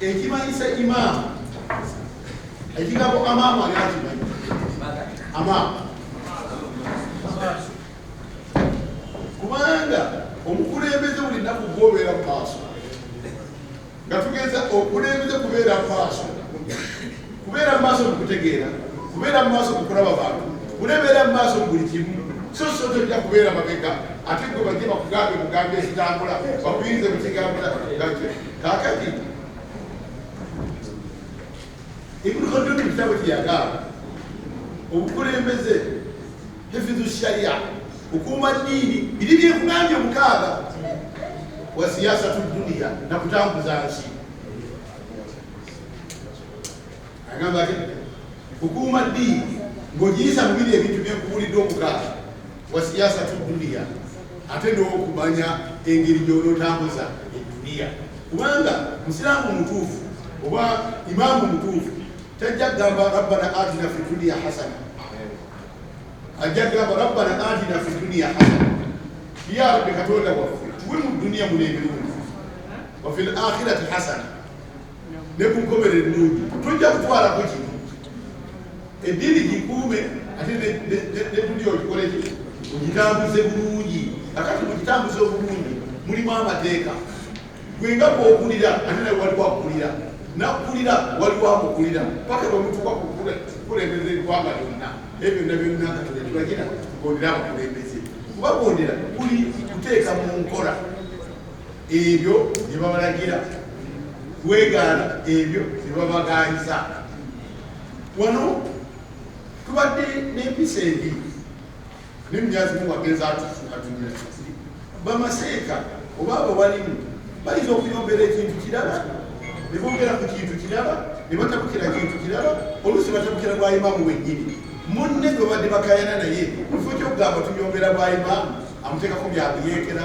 ekimanyisa imam ekigambo amamu ani akimanyi amamu kubanga omukulembeze buli nnaku gwobeera mu maaso nga tugeza okulembeze kubeera mu maaso kubeera mu maaso mukutegeera kubeera mu maaso mukulaba bantu kulebeera mu maaso mu buli kimu so so tojja kubeera mabega ate gwe bajje bakugambe mugambe ekitambula bakuyinze mukigambula Kaakati Ibn Khaldun mu kitabo kye yagamba obukulembeze hifidhu sharia kukuuma ddiini biri byekugambye omukaaga wa siyasatu duniya nakutambuza nsi Agamba ati kukuuma ddiini ng'ogiyiza mu biri ebintu bye nkubuulidde omukaaga wa siyaasa tu duniya ate n'okumanya engeri gy'onootambuza edduniya kubanga musiraamu omutuufu oba imaamu omutuufu tajja kugamba rabbana atina fi duniya hasana ajja kugamba rabbana atina fi duniya hasana ya rabbi katonda waffe tuwe mu duniya muna ebirungi wafi l akhirati hasana ne ku nkomerero ennungi tojja kutwalako kino eddiini gikuume ate netuli ogikoleki ogitambuze bulungi akati mugitambuze obulungi mulimu amateeka gwe nga kwokulira ate nawe waliwo akulira nakulira waliwo amukulira paka bwemutuka kukulembeza eggwanga lyonna naye byonna byonna katonda kibagira kugondera abakulembeze kubagondera kuli kuteeka mu nkola ebyo bye babalagira kwegaana ebyo bye babagaanyiza wano tubadde n'empisa ebi nemyazimu wagenza atufukatumira kiti bamaseeka oba abo balimu bayinza okuyombera ekintu kirala ne bongera ku kintu kirala ne batabukira kintu kirala oluusi batabukira bwayimamu wennyini munne gwe badde bakayana naye mu kifo kyokugamba tuyombera bwayimamu amuteekako byakuyeekera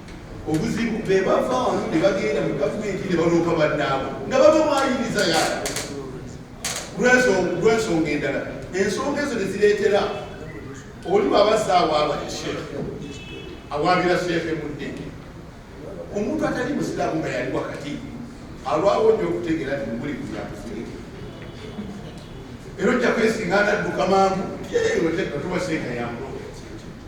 obuzibu bebava wano ne bagenda mu gavumenti ne baloopa bannaabwe nga baba mwayiriza ya lwensonga endala ensonga ezo ne zireetera oli bwabazza awaaba ne sheekhe awaabira sheekhe mu ddini omuntu atali musiraamu nga yali wakati alwawo nyo okutegeera nti mubuli kuyakufunika era ojja kwesinga anadduka mangu yeyoteatuba seeka yangu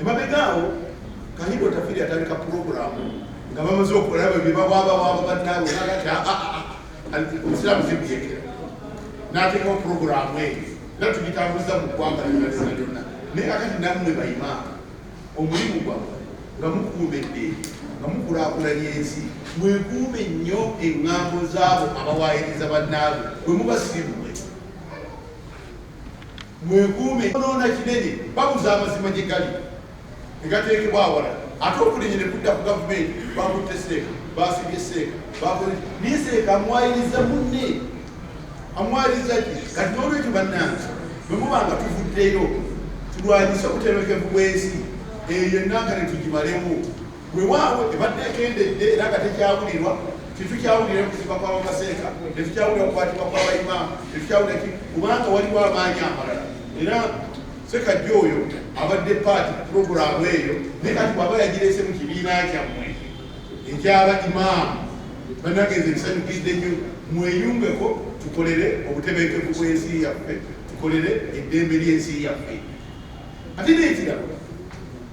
Emabega awo Kahindo Tafiri atandika pulogulaamu nga bamaze okulaba ebyo bawabawaaba bannaabwe nagati ah, ah, ah, obusiraamu zibyekera n'ateekawo pulogulaamu eyo era tugitambuza mu ggwanga lyona lyona lyonna naye kakati nammwe bayimaaka omulimu gwammwe nga mukuuma eddeeri nga mukulakulanya ensi mwekuume nnyo eŋŋambo zaabo abawaayiriza bannaabwe bwe mubasiimu Mwekuume onoona kinene, babuza amazima gye gali ne gateekebwa awala ate okulinnya ne kudda ku gavumenti. Baakutte Seeka, baasibye Seeka, baakoze naye Seeka amwayiriza munne, amwayiriza ki? Kati n'olwekyo bannange, bwe muba nga tuvuddeyo tulwanyise obutebenkevu bw'ensi eyo ennanga ne tugimalemu. Wewaawo ebadde ekendedde era nga tekyawulirwa tetukyawulira kuziba kwa bamaseeka tetukyawulira kukwatibwa kwa baimaamu tetukyawulira ki kubanga waliwo amaanyi amalala era sekajja oyo abadde paati puroguramu eyo naye kati bwaba yagirese mu kibiina kyammwe ekyaba imaamu banagenza ebisanyukidde nnyo mweyungeko tukolere obutebenkevu bw'ensi yaffe tukolere eddembe ly'ensi yaffe ate nekirala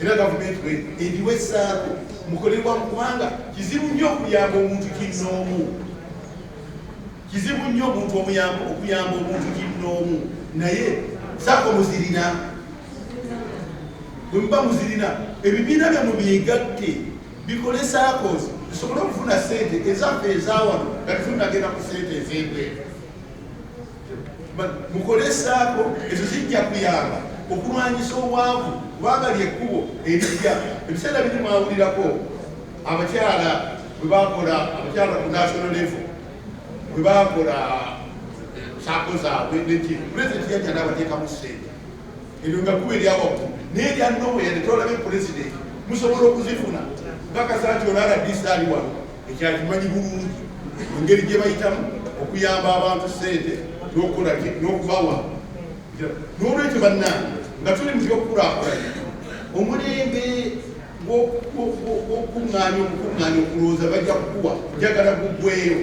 era gavumenti bwe eriwo essaako mukolerwa mu kubanga kizibu nnyo okuyamba omuntu kinnoomu kizibu nnyo omuntu omuyamba okuyamba omuntu kinnoomu naye saako muzirina bwe muba muzirina ebibiina byamu byegatte bikole saakos tusobole okufuna sente ezaffe ezawano nga tufunagenda ku sente ez'ebweru mukolesaako ezo zijja kuyamba okulwanyisa obwavu kubanga lyekkubo erijja ebiseera biri mwawulirako abakyala bwebakola abakyala ku national level bwebakola saako zaabwe neki pulezidenti yajja nabateekamu sente ebyo nga kuba eryawakku naye erya nowe yadetolabe pulezidenti musobola okuzifuna bakasa nti onaala disaali wano ekyo akimanyi bulungi engeri gye bayitamu okuyamba abantu ssente n'okukola n'okubawa n'olwekyo bannange nga tuli mu byokukulakulanya omulembe gw'okukuŋŋaanya okukuŋŋaanya okulowooza bajja kukuwa njagala guggweyo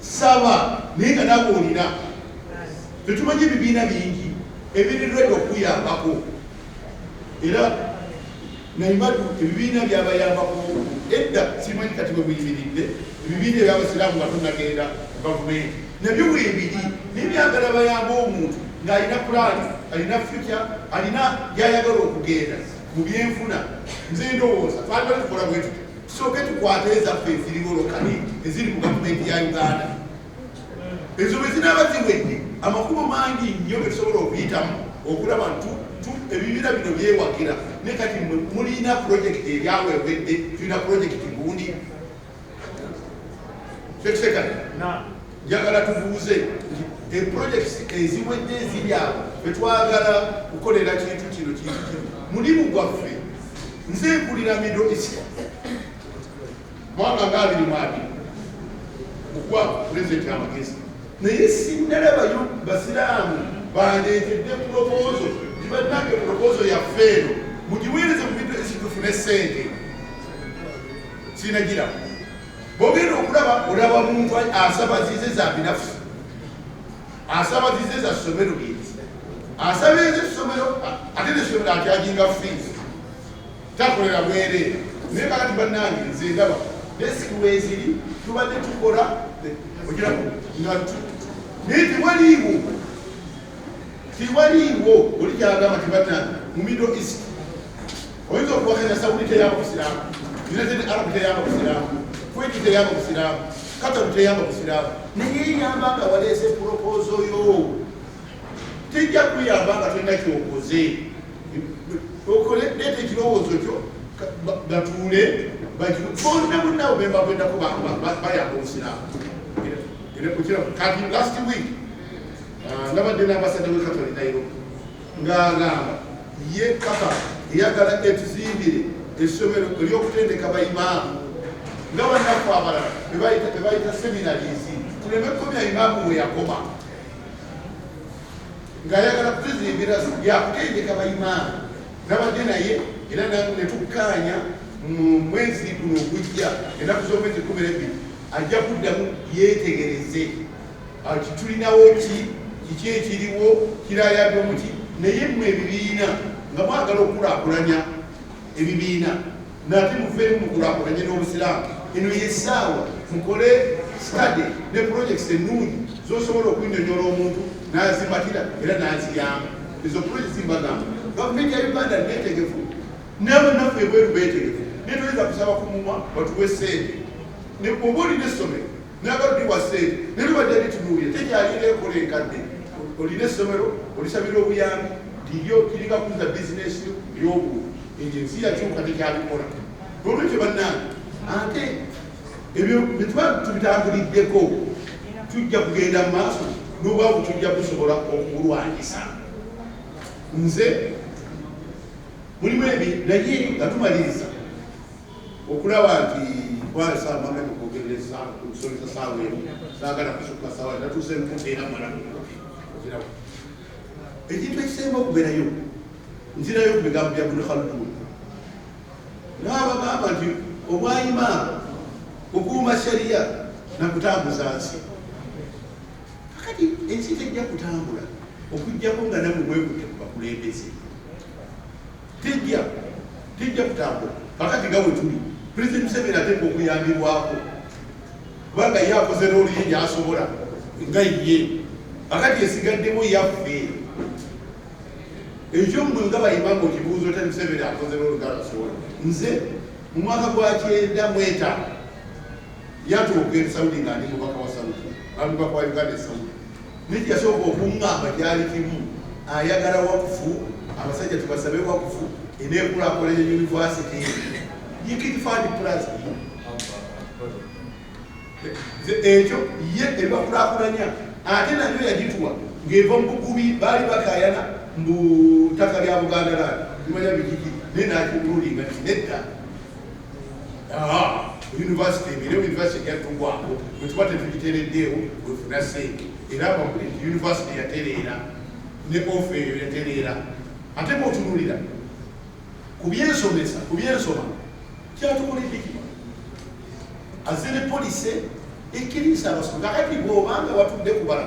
saba naye nga nawe olina tetumanyi ebibiina bingi ebirirwedde okuyambako era Naye badu ebibiina byabayambako edda simanyi kati webuyimiridde ebibiina ebyabasiraamu nga tunagenda mu gavumenti nabyo webiri naye byagala bayamba omuntu ng'alina pulaani alina future alina byayagala okugenda mu byenfuna nze ndowooza twagala tukola bwetuti tusooke tukwate ezaffe eziriwo lokale eziri mu gavumenti ya uganda ezo bwe zinaaba ziwedde amakubo mangi nnyo ge tusobola okuyitamu okulaba ntu ebibira bino byewagira ne kati mulina pulojekiti ebyawewedde tulina pulojekiti gundi kyekisekati njagala tubuuze nti epulojekiti eziwedde eziryawo etwagala kukolera kintu kino kintu kino mulimu gwaffe nze mpulira mido isi mwaka nga abiri mu abiri okuwa pulezidenti amagezi naye sinnalaba basiraamu bandeetedde pulopozo tibannange pulopozo yaffe eno mugiweereze mu bintu ekitufune sente sinagira bogenda okulaba olaba muntu asaba zize za binafusi asaba zize za somero lyezi asaba ezi somero ate nesomero atyajinga fiisi takolera bwereere naye kakati bannange nze ndaba desiki weeziri tubadde tukola ogirako nga naye tewaliiwo tewaliiwo oli gyagamba tibatanga mu middle east oyinza okuwakanya saudi teyamba busiraamu united arab teyamba busiraamu kweti teyamba busiraamu kataru teyamba busiraamu naye eyamba nga waleese pulopozo yo tejja kuyamba nga tolina kyokoze okole leeta ekirowoozo kyo batuule bonna bonna bebakwendako bayamba obusiraamu kati last week ah, nabadde n'ambasada we katale nairo ng'agamba ye kapa eyagala etuzimbire essomero eryokutendeka baimaamu nga bannaffe abalala bebayita seminarizi tuleme kukomya imaamu weyakoma ng'ayagala kuteza embeera zino yakutendeka bayimaani nabadde naye era netukkaanya mu mwezi guno ogujja ennaku z'omwezi kumi nebbiri ajja kuddamu yeetegereze ati tulinawo ki kiki ekiriwo kirayadde omuki naye mmwe ebibiina nga mwagala okukulakulanya ebibiina nate muveemu mukulakulanye n'obusiraamu eno yesaawa mukole study ne projects ennungi zosobola okunyonyola omuntu nazimatira era naziyamba ezo projects mbagamba gavumenti ya uganda netegefu nabanaffe ebweru betegefu naye toyinza kusaba ku mumwa batuwe sente oba olina essomero nabaludiwa sente naye lubadde litunuulira tekyalina ekola enkadde olina essomero olisabira obuyambi ndiyo kiringa kuza bizinesi yobuubi Ekyo ensi yakyuka tekyabikola. Nolwekyo bannange ate ebyo byetuba tubitambuliddeko tujja kugenda mu maaso n'obwavu tujja kusobola okubulwanyisa. Nze mulimu ebi naye nga tumaliriza okulaba nti twalesa amaka nikogerereza okusomesa saawa emu saagala kusukka saawa natuuse nkuteera mala okiraba Ekintu ekisemba okuberayo nzirayo ku bigambo bya Ibn Khaldun n'abagamba nti obwayima kukuuma sharia na kutambuza nsi. Kakati ensi tejja kutambula okujjako nga namwe mwekutte ku bakulembeze, tejja tejja kutambula. Kakati nga wetuli Pulezidenti Museveni ateekwa okuyambibwako. kubanga ye akoze looli ye gyasobola nga ye akati esigaddemu yaffe ekyo mwe nga bayimanga okibuuza otya museveni akoze looli nga asobola nze mu mwaka gwa kyenda mweta yatuuka esaudi nga ndi mubaka wa saudi bamubaka wa uganda esaudi Niki yasooka okungamba kyali kimu ayagala wakufu abasajja tubasabe wakufu enekulakulanya yunivasite yikifani plus ekyo ye ebakulakulanya ate nayo yagituwa ng'eva mu bukubi baali bakayana mbu ttaka lya buganda lani limanya bikiki naye nakirulinga nti nedda yunivasite era yunivasite yatugwako bwetuba tetugitereddeewo wefuna sente era abakuli nti yunivasite yatereera ne ofe eyo yatereera ate bwotunulira ku byensomesa ku byensoma kyatukoleddekima azere polise ekiriisa abasoma kakati bwobanga watudde kubala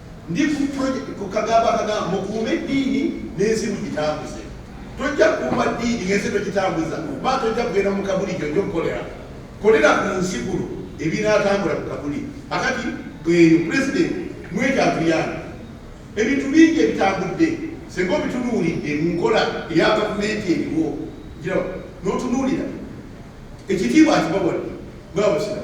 Ndi ku project ku kagamba akagamba mukuume eddiini n'ensi mugitambuze. Tojja kuuma ddiini ng'ensi togitambuza kuba tojja kugenda mu kabuli gyojja okukolera. Kolera ku nsi kuno ebinaatambula ku kabuli. Akati bweyo pulezidenti mwekyatuyana ebintu bingi ebitambudde singa obitunuulidde mu nkola eya gavumenti eriwo n'otunuulira ekitiibwa akibawadde bwabusira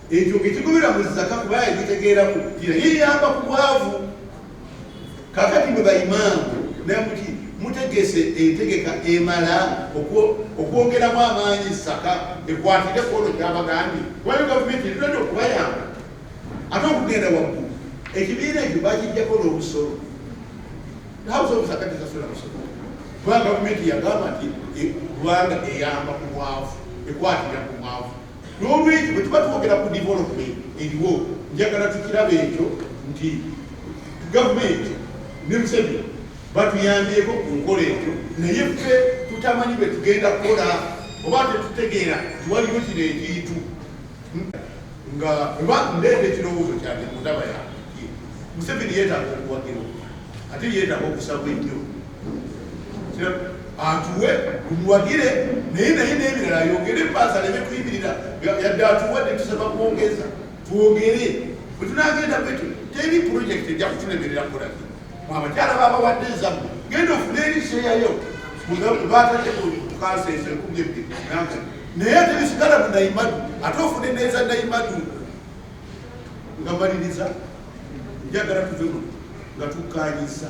ekyo ngekigobera mu zaka kuba yagitegeeraku kira yeyamba ku bwavu kakati mwe baimaamu namuti mutegese entegeka emala okwongeramu amaanyi zaka ekwatire kwono kyabagambi kubanga gavumenti erirade okubayamba ate okugenda waggulu ekibiina ekyo bakijjako n'obusolo house of zaka tesasula musolo kubanga gavumenti yagamba nti e, kubanga eyamba ku bwavu ekwatira ku bwavu N'olwekyo bwe tuba twogera ku development eriwo, njagala tukiraba ekyo nti gavumenti ne Museveni batuyambyeko ku nkola ekyo, naye ffe tutamanyi bwe tugenda kukola oba tetutegeera tiwaliwo kino ekintu nga oba ndeeta ekirowoozo kyange mutaba yange Museveni yeetaaga okuwagirwa ate yeetaaga okusabwa ennyo atuwe tumuwagire naye naye nebirala ayogere paasa aleme kuyimirira yadde atuwe netusaba kwongeza twogere bwetunagenda bwetu teri purojekiti ejja kutulemerera kulaki abakyala babawadde ezamu genda ofune eriseyayo batadde kukansa ezo ekumi ebbiri naye ate bisigala mu naimadu ate ofune neza naimadu nga maliriza njagala tuve muno nga tukkaanyizza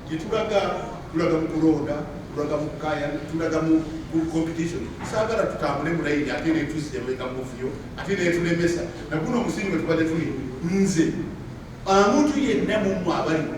gyetulaga tulaga mu kulonda tulaga mu kaya tulaga mu competition saagala tutambule mulayini ate netuzemeka muvuyo ate netulemesa naguno omusingi wetubadde tuli nze omuntu yenna mumwe abaliwo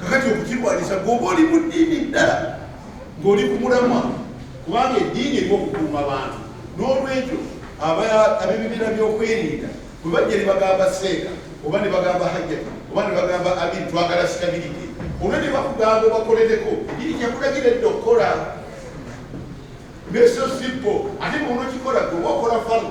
kakati okukirwanyisa gwoba oli mu ddiini ddala ng'oli ku mulamwa kubanga eddiini erimu okukuuma bantu n'olwekyo ab'ebibiina by'okwerinda bwe bajja ne bagamba seeka oba ne bagamba hajjati oba ne bagamba abiri twagala sitabirite olwo ne bakugamba obakolereko eddiini kyakulagira edda okukola nesosimpo ate bwonaokikola gweoba okola falu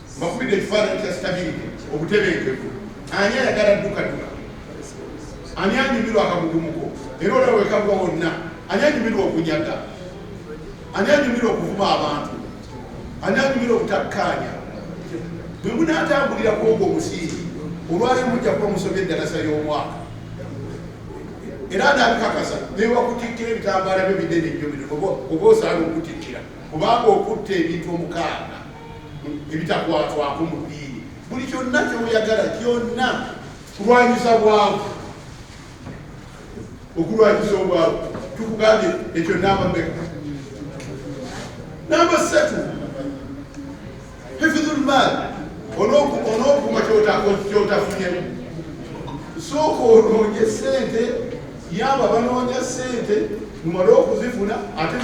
Bakubidde ekifaananyi kya stability, obutebenkevu. Ani ayagala ddukaduka? Ani anyumirwa akagugumuko? Era olaba wekagwa wonna. Ani anyumirwa okunyaga? Ani anyumirwa okuvuma abantu? Ani anyumirwa obutakkaanya? Bwe munaatambulira ku ogwo omusingi, olwali mujja kuba musobya eddalasa y'omwaka. Era anaabikakasa newakutikkira ebitambaala byo binene nnyo bino oba osaana okutikkira kubanga okutta ebintu omukaaga ebitakwatwako mu ddiini buli kyonna kyoyagala kyonna kulwanyisa bwavu okulwanyisa obwavu tukugambye ekyo namba meka namba satu hifidhulmaali onokuma kyotafunye sooka onoonye sente yamba banoonya ssente mumale okuzifuna ate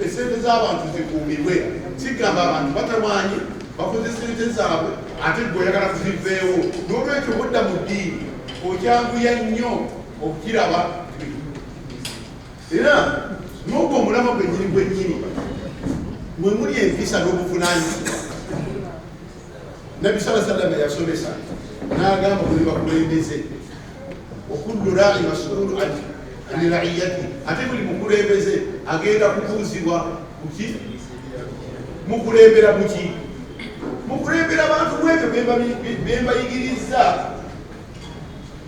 esente z'abantu zikuumibwe kigamba abantu batawaanye bakoze sente zaabwe ate gwe oyagala kuziveewo n'olwekyo budda mu ddiini okyanguya nnyo okukiraba era n'ogwo omulama gwennyini gwennyini mwe muli empisa n'obuvunanyizibwa nabbi saa sallama yasomesa n'agamba buli bakulembeze okullu rai masulu ani raiyati ate buli mukulembeze agenda kubuuzibwa kuki mukulembera kuki mukulembera bantu mwebyo bembayigiriza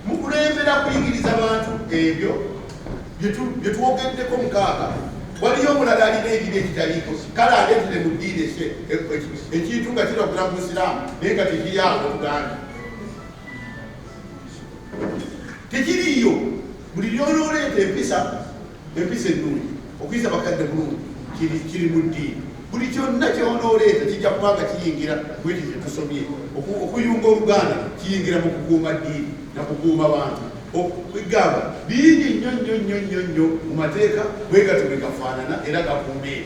mukulembera kuyigiriza bantu ebyo byetwogeddeko mukaaga waliyo omulala alina edini ekitaliiko kale aletele mu diini ese ekintu nga kiragula mu busiraamu naye nga tekiryawo oluganda tekiriiyo buli lyonooleeta empisa Empisa ennungi, okuyisa bakadde bulungi kiri kiri mu ddiini. Buli kyonna ky'onooleeta kijja kuba nga kiyingira mu ekyo kye tusomye. Oku- Okuyunga oluganda kiyingira mu kukuuma ddiini na kukuuma bantu. Okugamba bingi nnyo nnyo nnyo nnyo nnyo mu mateeka bwe gatyo bwe gafaanana era gakuuma ebyo.